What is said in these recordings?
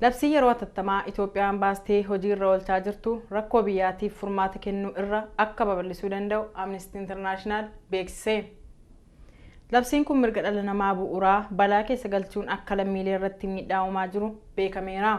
Labsii yeroo hatattamaa Itoophiyaan baastee hojii irra oolchaa jirtu rakkoo biyyaatiif furmaata kennuu irra akka babal'isuu danda'u Amnesty International beeksise. Labsiin kun mirga dhala namaa bu'uuraa balaa keessa galchuun akka lammiilee irratti miidhaa uumaa jiru beekameera.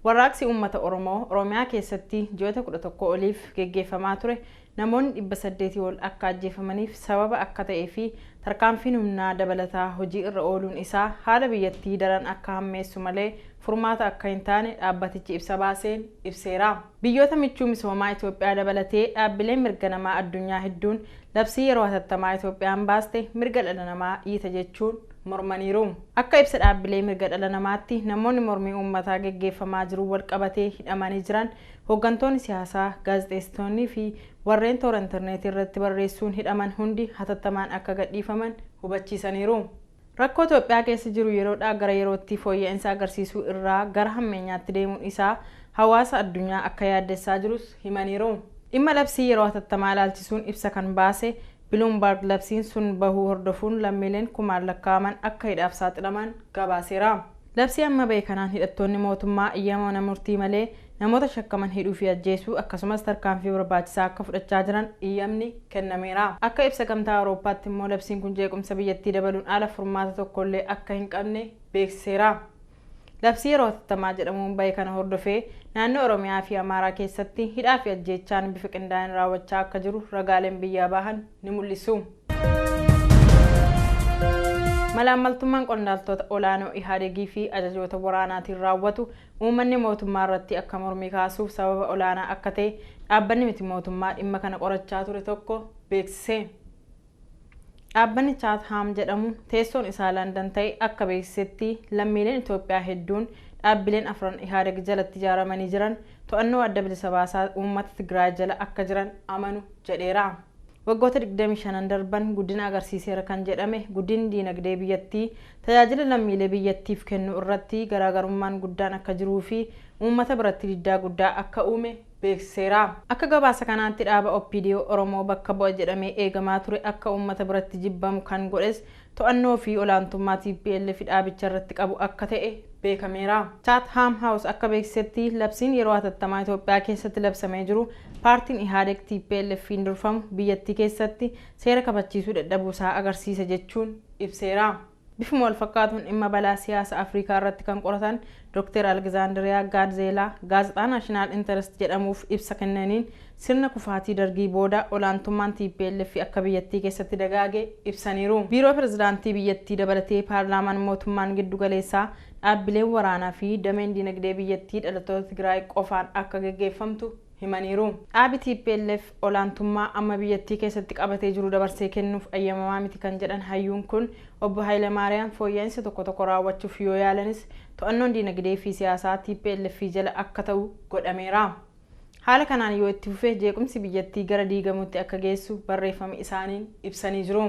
Warraaqsi uummata Oromoo Oromiyaa keessatti ji'oota 11 oliif geggeeffamaa ture namoonni 800 ol akka ajjeefamaniif sababa akka ta'ee fi tarkaanfiin humnaa dabalataa hojii irra ooluun isaa haala biyyattii daran akka hammeessu malee furmaata akka hin taane dhaabbatichi ibsa baaseen ibseera. Biyyoota michuu misoomaa Itoophiyaa dabalatee dhaabbileen mirga namaa addunyaa hedduun labsii yeroo hatattamaa Itoophiyaan baaste mirga dhala namaa dhiita jechuun mormaniiru. Akka ibsa dhaabbilee mirga dhala namaatti namoonni mormii uummataa geggeeffamaa jiruun walqabatee hidhamanii jiran Hoggantoonni siyaasaa, gaazexeessitoonnii fi warreen toora interneetii irratti barreessuun hidhaman hundi hatattamaan akka gadhiifaman hubachiisaniiru. Rakkoo Itoophiyaa keessa jiru yeroodhaa gara yerootti fooyya'insa agarsiisuu irraa gara hammeenyaatti deemuun isaa hawaasa addunyaa akka yaaddessaa jirus himaniiru. Dhimma labsii yeroo hatattamaa ilaalchisuun ibsa kan baase Biluumbarg labsiin sun bahuu hordofuun lammiileen kumaan lakkaa'aman akka hidhaaf saaxilaman gabaaseera. Labsii amma bahe kanaan hidhattoonni mootummaa eyyama mana murtii malee namoota shakkaman hidhuu fi ajjeesuu akkasumas tarkaanfii barbaachisaa akka fudhachaa jiran eyyamni kennameera. Akka ibsa Gamtaa Awurooppaatti immoo labsiin kun jeequmsa biyyattii dabaluun ala furmaata tokkollee akka hin qabne beeksiseera. Labsii yeroo hatattamaa jedhamuun bahe kana hordofee naannoo Oromiyaa fi Amaaraa keessatti hidhaa fi ajjeechaan bifa qindaa'een raawwachaa akka jiru ragaaleen biyyaa bahan ni mul'isu. Malaammaltummaan qondaaltota olaanoo Ihaadegii fi ajajoota waraanaatiin raawwatu uummanni mootummaa irratti akka mormii kaasuuf sababa olaanaa akka ta'e dhaabbanni miti mootummaa dhimma kana qorachaa ture tokko beeksise. Dhaabbanni Chaathaam jedhamu teessoon isaa Landan ta'e akka beeksisetti lammiileen Itoophiyaa hedduun dhaabbileen afran Ihadeg jalatti ijaaramanii jiran to'annoo Adda Bilisa Baasaa Uummata Tigraay jala akka jiran amanu jedheera. Waggoota 25n darban guddina agarsiiseera kan jedhame guddinni diinagdee biyyattii tajaajila lammiilee biyyattiif kennuu irratti garaagarummaan guddaan akka jiruu fi uummata biratti diddaa guddaa akka uume beeksiseera. Akka gabaasa kanaatti dhaaba OPDO Oromoo bakka bu'a jedhamee eegamaa ture akka uummata biratti jibbamu kan godhes to'annoo fi olaantummaa tplf dhaabicha irratti qabu akka ta'e beekameera. Chatham House akka beeksisetti labsiin yeroo hatattamaa Itoophiyaa keessatti labsamee jiru paartiin Ihaadeg TPLF'n durfamu biyyattii keessatti seera kabachiisuu dadhabuu isaa agarsiisa jechuun ibseera. Bifuma walfakkaatuun dhimma balaa siyaasa Afrikaa irratti kan qoratan Doktar Algzaandiriyaa Gaadzeelaa gaazexaa Naashinaal Interest jedhamuuf ibsa kennaniin sirna kufaatii Dargii booda olaantummaan tplf akka biyyattii keessatti dagaage ibsaniiru. Biiroo Pirezidaantii biyyattii dabalatee paarlaamaan, mootummaan giddugaleessaa, dhaabbileen waraanaa fi dameen dinagdee biyyattii dhalattoota Tigraay qofaan akka geggeeffamtu, himaniiru. Dhaabi tplf olaantummaa amma biyyattii keessatti qabatee jiru dabarsee kennuuf ayyamamaa miti kan jedhan hayyuun kun, Obbo Haylemaariyaam fooyya'insa tokko tokko raawwachuuf yoo yaalanis to'annoon diinagdee fi siyaasaa tplf jala akka ta'u godhameera. Haala kanaan yoo itti fufe jeequmsi biyyattii gara diigamuutti akka geessu barreeffama isaaniin ibsanii jiru.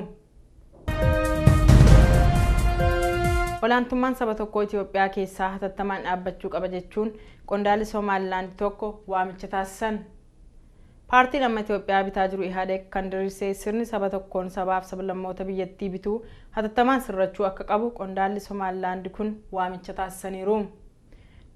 Olaantummaan saba tokkoo Itiyoophiyaa keessaa hatattamaan dhaabbachuu qaba jechuun qondaalli Somaalilaand tokko waamicha taasisan. Paartiin amma Itiyoophiyaa bitaa jiru Ihaadeeg kan diriirse sirni saba tokkoon sabaaf sablammoota biyyattii bituu hatattamaan sirrachuu akka qabu qondaalli Somaalilaand kun waamicha taasisaniiru.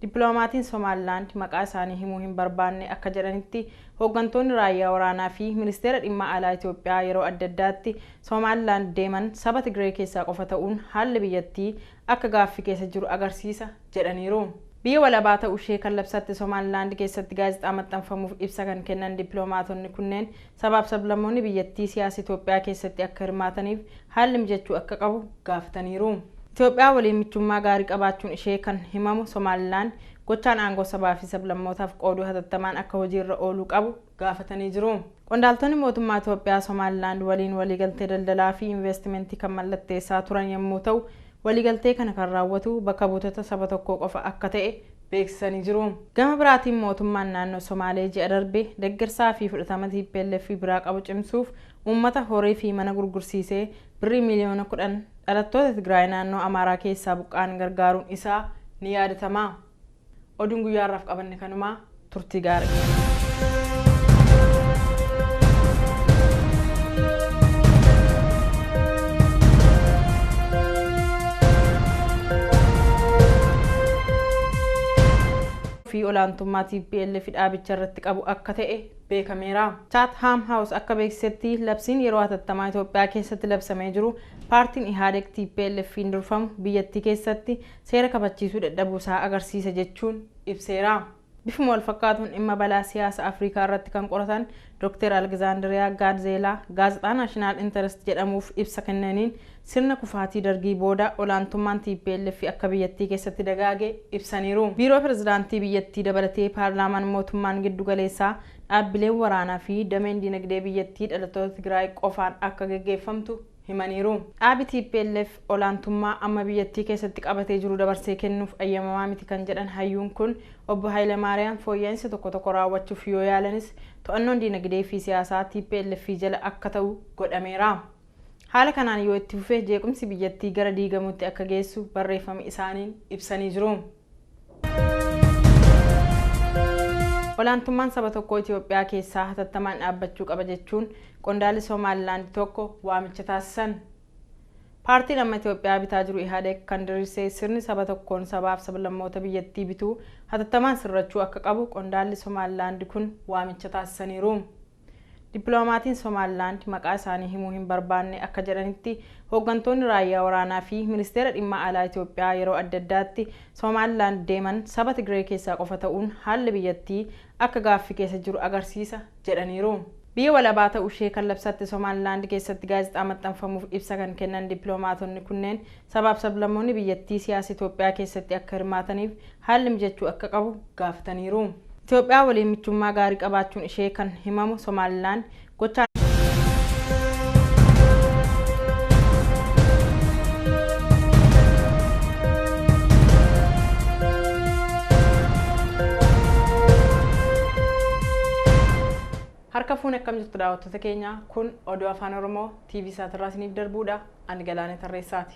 Dippiloomaatiin Somaalilaand maqaa isaanii himuu hin barbaanne akka jedhanitti, hooggantoonni raayyaa waraanaa fi Ministeera Dhimma Alaa Itoophiyaa yeroo adda addaatti Somaalilaand deeman saba Tigiree keessaa qofa ta'uun haalli biyyattii akka gaaffii keessa jiru agarsiisa jedhaniiru. Biyya walabaa ta'ushee kan labsatte Somaalilaand keessatti gaazexaa maxxanfamuuf ibsa kan kennan dippilomaatonni kunneen, Sabaaf sablammoonni biyyattii siyaasa Itoophiyaa keessatti akka hirmaataniif haalli mijachuu akka qabu gaafataniiru. Itoophiyaa waliin michummaa gaarii qabaachuun ishee kan himamu Somaalilaand gochaan aangoo sabaa fi sablammootaaf qooduu hatattamaan akka hojiirra ooluu qabu gaafatanii jiru. Qondaaltonni mootummaa Itoophiyaa Somaalilaand waliin waliigaltee daldalaa fi inveestimentii kan mallatteessaa turan yemmuu ta'u, waliigaltee kana kan raawwatu bakka buutota saba tokkoo qofa akka ta'e beeksisanii jiru. Gama biraatiin mootummaan naannoo Somaalee ji'a darbe deggersaa fi fudhatama tplf biraa qabu cimsuuf uummata horee fi mana gurgursiisee Birrii miiliyoona 10 dhalattoota Tigraay naannoo Amaaraa keessaa buqqa'an gargaaruun isaa ni yaadatama. Oduun guyyaa har'aaf qabanne kanuma. Turtii gaarii. fi olaantummaa TPLF dhaabicha irratti qabu akka ta'e beekameera. Chatham House akka beeksisetti labsiin yeroo hatattamaa Itoophiyaa keessatti labsamee jiru paartiin Ihaadeg TPLFiin durfamu biyyattii keessatti seera kabachiisuu dadhabuu isaa agarsiisa jechuun ibseera. Bifuma walfakkaatuun dhimma balaa siyaasa Afrikaa irratti kan qoratan Doktar Algzaandiriyaa Gaadzeelaa gaazexaa Naashinaal Interest jedhamuuf ibsa kennaniin sirna kufaatii Dargii booda olaantummaan tplf akka biyyattii keessatti dagaage ibsaniiru. Biiroo Pirezidaantii biyyattii dabalatee paarlaamaan, mootummaan giddugaleessaa, dhaabbileen waraanaa fi dameen dinagdee biyyattii dhalattoota Tigraay qofaan akka geggeeffamtu, himaniiru. Dhaabi tplf olaantummaa amma biyyattii keessatti qabatee jiru dabarsee kennuuf ayyamamaa miti kan jedhan hayyuun kun, Obbo Hayilamaariyaam fooyya'insa tokko tokko raawwachuuf yoo yaalanis to'annoon diinagdee fi siyaasaa tplf jala akka ta'u godhameera. Haala kanaan yoo itti fufe jeequmsi biyyattii gara diigamuutti akka geessu barreeffama isaaniin ibsanii jiru. Olaantummaan saba tokkoo Itiyoophiyaa keessaa hatattamaan dhaabbachuu qaba jechuun qondaalli Somaalilaand tokko waamicha taasisan. Paartiin amma Itiyoophiyaa bitaa jiru Ihaadeeg kan diriirse sirni saba tokkoon sabaaf sablammoota biyyattii bituu hatattamaan sirrachuu akka qabu qondaalli Somaalilaand kun waamicha taasisaniiru. Dippiloomaatiin Somaalilaand maqaa isaanii himuu hin barbaanne akka jedhanitti, hooggantoonni raayyaa waraanaa fi Ministeera Dhimma Alaa Itoophiyaa yeroo adda addaatti Somaalilaand deeman saba Tigree keessaa qofa ta'uun haalli biyyattii akka gaaffii keessa jiru agarsiisa jedhaniiru. Biyya walabaa ta'ushee kan labsatte Somaalilaand keessatti gaazexaa maxxanfamuuf ibsa kan kennan dippilomaatonni kunneen, Sabaaf sablammoonni biyyattii siyaasa Itoophiyaa keessatti akka hirmaataniif haalli mijachuu akka qabu gaafataniiru. Itoophiyaa waliin michummaa gaarii qabaachuun ishee kan himamu Somaalilaand gochaa. Harka fuune akkam jirtu daawwattoota keenya kun oduu afaan oromoo TV saatirraa isiniif darbuudha Ani Galaanee Tarreessaati.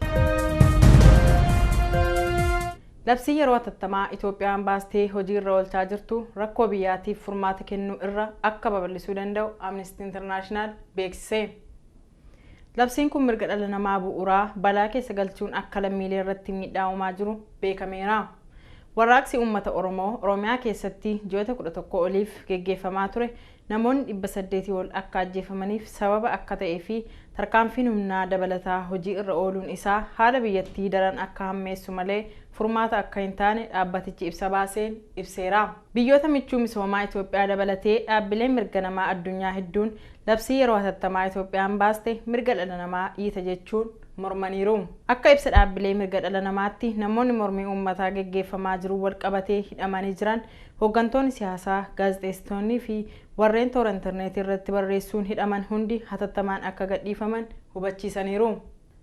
Labsii yeroo hatattamaa Itoophiyaan baastee hojii irra oolchaa jirtu rakkoo biyyaatiif furmaata kennuu irra akka babal'isuu danda'u Amnesty International beeksise. Labsiin kun mirga dhala namaa bu'uuraa balaa keessa galchuun akka lammiilee irratti miidhaa uumaa jiru beekameera. Warraaqsi uummata Oromoo Oromiyaa keessatti ji'oota 11 oliif geggeeffamaa ture namoonni 800 ol akka ajjeefamaniif sababa akka ta'ee fi tarkaanfiin humnaa dabalataa hojii irra ooluun isaa haala biyyattii daran akka hammeessu malee furmaata akka hin taane dhaabbatichi ibsa baaseen ibseera. Biyyoota michuu misoomaa Itoophiyaa dabalatee dhaabbileen mirga namaa addunyaa hedduun labsii yeroo hatattamaa Itoophiyaan baaste mirga dhala namaa dhiita jechuun mormaniiru. Akka ibsa dhaabbilee mirga dhala namaatti namoonni mormii uummataa geggeeffamaa jiruun walqabatee hidhamanii jiran Hoggantoonni siyaasaa, gaazexeessitoonnii fi warreen toora interneetii irratti barreessuun hidhaman hundi hatattamaan akka gadhiifaman hubachiisaniiru.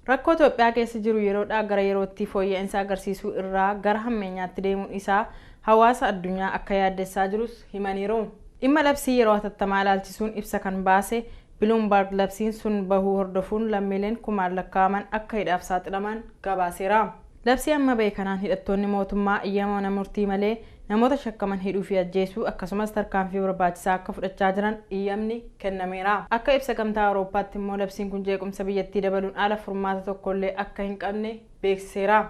Rakkoo Itoophiyaa keessa jiru yeroodhaa gara yerootti fooyya'insa agarsiisuu irraa gara hammeenyaatti deemuun isaa hawaasa addunyaa akka yaaddessaa jirus himaniiru. Dhimma labsii yeroo hatattamaa ilaalchisuun ibsa kan baase Biluumbarg labsiin sun bahuu hordofuun lammiileen kumaan lakkaa'aman akka hidhaaf saaxilaman gabaaseera. Labsii amma bahe kanaan hidhattoonni mootummaa eyyama mana murtii malee namoota shakkaman hidhuu fi ajjeesuu akkasumas tarkaanfii barbaachisaa akka fudhachaa jiran eyyamni kennameera. Akka ibsa Gamtaa Awurooppaatti immoo labsiin kun jeequmsa biyyattii dabaluun ala furmaata tokkollee akka hin qabne beeksiseera.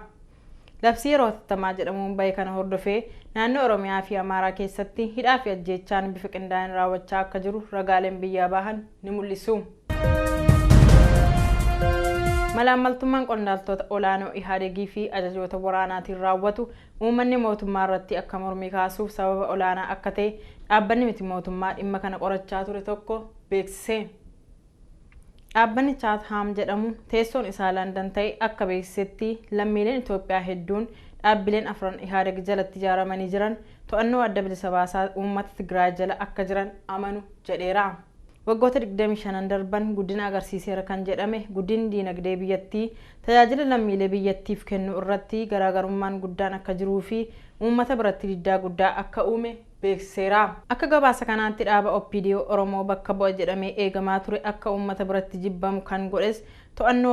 Labsii yeroo hatattamaa jedhamuun bahe kana hordofee naannoo Oromiyaa fi Amaaraa keessatti hidhaa fi ajjeechaan bifa qindaa'een raawwachaa akka jiru ragaaleen biyyaa bahan ni mul'isu. Malaammaltummaan qondaaltota olaanoo Ihaadegii fi ajajoota waraanaatiin raawwatu uummanni mootummaa irratti akka mormii kaasuuf sababa olaanaa akka ta'e dhaabbanni miti mootummaa dhimma kana qorachaa ture tokko beeksise. Dhaabbanni Chaathaam jedhamu teessoon isaa Landan ta'e akka beeksisetti lammiileen Itoophiyaa hedduun dhaabbileen afran Ihaadeg jalatti ijaaramanii jiran to'annoo Adda Bilisa Baasaa Uummata Tigraay jala akka jiran amanu jedheera. Waggoota 25n darban guddina agarsiiseera kan jedhame guddinni diinagdee biyyattii tajaajila lammiilee biyyattiif kennuu irratti garaagarummaan guddaan akka jiruu fi uummata biratti diddaa guddaa akka uume beeksiseera. Akka gabaasa kanaatti dhaaba OPDO Oromoo bakka bu'a jedhamee eegamaa ture akka uummata biratti jibbamu kan godhes to'annoo